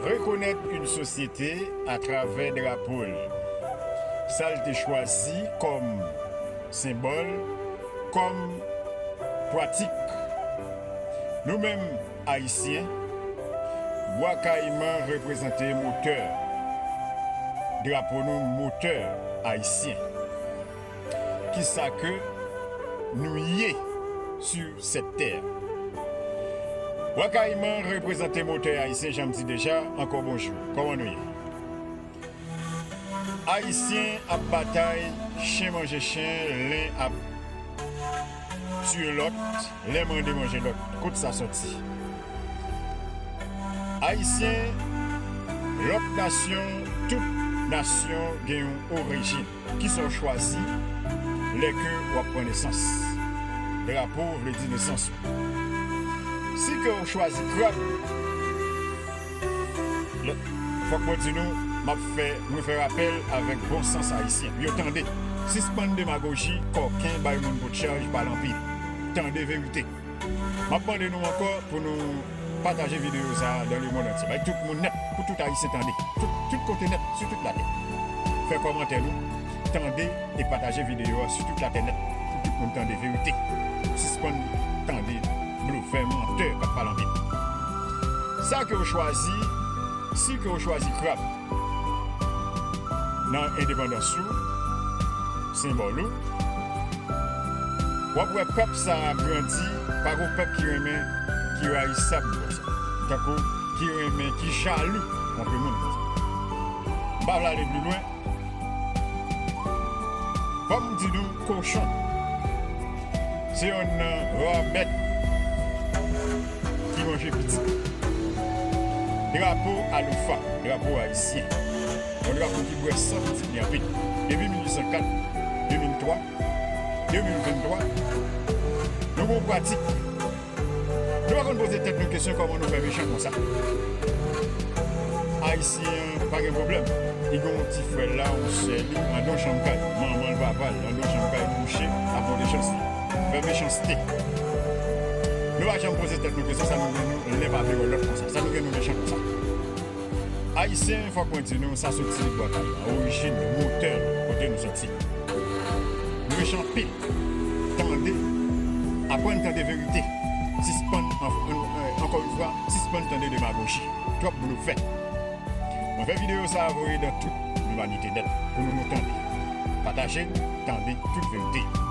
Rekonèt yn sosyete a travè drapo l, sa l te chwazi kòm senbòl, kòm pwatik. Nou menm Ayisyen, Bwa Kayiman reprezante motè drapo nou, motè Ayisyen. kisa ke nou ye sur cette terre. Wa Kayiman reprezante motè Ayisyen janm di deja ankò bonjou. Kòman nou ye? Ayisyen ap batay chen manje chen len ap tiye lòt len mande manje lòt kot sa sòti? Ayisyen lòt nasyon tout nasyon gen yon orijin. Kisa w chwazi lè ke w ap pran nesans? Drapo vle di nesans ou. Si ke w chwazi krab, lè, fòk mwen di nou, m ap fè, mwen fè rapèl avèk bon sans Ayisyen. Yo tande! Sispann demagoji, kòken, bay moun potchaj, pale anpil. Tande verite! Map mande nou ankò pou nou pataje video sa dans le monde entier bay tout moun nèt pou tout ayisyen tande tout kote nèt sou tout latè fè kòmantè nou tande e pataje video a sou tout latè nèt pou tout moun tande verite sispann tande blofè mantè kap pale anpil sa ke ou chwazi si ke ou chwazi krab. Nan endepandans ou, senbòl ou, wap wè pèp sa a grandi pa gwo pèp ki renmen, ki rayisab konsa, tankou ki renmen, ki jalou anpil moun konsa. M pa vle ale pli lwen, fòk m di nou Kochon se yonn nan ra bèt ki manje piti. Drapo aloufa, drapo ayisyen, yon drapo ki bwè san pitit li anpil. Depi 1804, 2003, 2023, nou gen yon pratik Nou pa konn poze tèt nou kesyon kòman nou fè mechan konsa. Ayisyen pa gen pwoblèm. Li gen yon ti frè l la, yon sè li, andan yon chanm kay. Manman l, papa l, andan yon chanm kay kouche ap monte chans li. Fè mechanste. Nou pa janm poze tèt nou kesyon sa nou gen nou lè pa vle wè lòt konsa. Sa nou gen nou mechan konsa. Ayisyen, fòk mwen di nou, sa soti bò tal la, orijin nou, motè nou, kote nou soti. Nou rich anpil. Tande, aprann tande verite. Sispann, ankò yon fwa, sispann tande demagoji. Twòp blofè. Mwen fè videyo sa a voye dan tout limanite nèt pou nou nou tande. Pataje l, tande tout verite yo.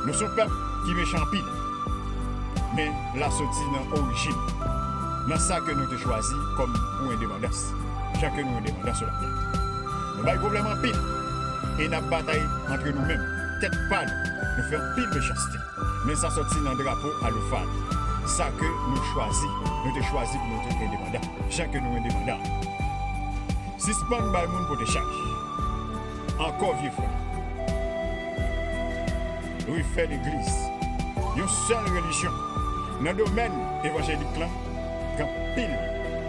Nou son pèp ki mechan anpil. men la soti nan orijin, nan sa ke nou te chwazi kòm pou endepandans, jan ke nou endepandans sou latè. Nou bay pwoblèm anpil e n ap batay antre nou menm, tèt pa nou, nou fè anpil mechanste, men sa soti nan drapo aloufa nou, sa ke nou chwazi, nou te chwazi pou nou te endepandan, jan ke nou endepandan an. Sispann bay moun pote chaj, ankò vye frè. refè legliz, yon sèl relijyon. Nan domèn evanjelik lan gen anpil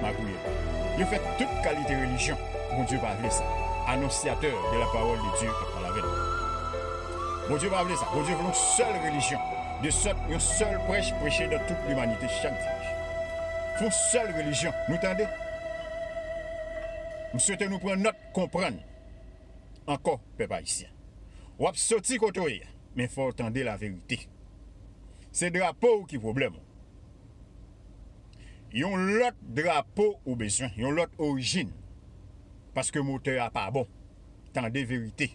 magouyè. Yo fè tout kalite relijyon, Bondye pa vle sa. Anonsyatè de la pawòl de Dye kap pale avè nou. Bondye pa vle sa. Bondye vle yon sèl relijyon, de sòt yon sèl prèch preche dan tout limanite chak dimanch. Fon sèl relijyon, nou tande? M swete nou pran nòt, konprann. ankò pèp ayisyen wap soti kote w ye a men fò w tande la verite se drapo w ki pwoblèm ou yon lòt drapo ou bezwen yon lòt orijin paske motè a pa bon tande verite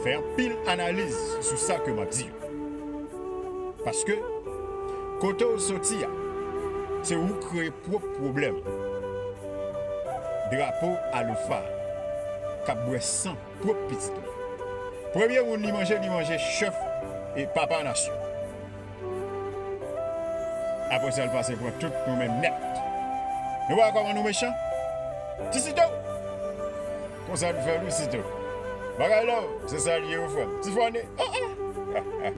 fè anpil analiz sou sa ke map di yo paske kote w soti a se ou kreye pwòp pwoblèm ou. Drapo aloufa kap bwè san pwop pitit li. Premye moun li manje li manje chèf e papa nasyon. Apre sa li pase pran tout nou menm nèt. Nou pa wè kòman nou mechan? Ti Sito! Konsa nou fè wi Sito. Bagay love se sa li ye wi frè m. Ti Fòne! An an!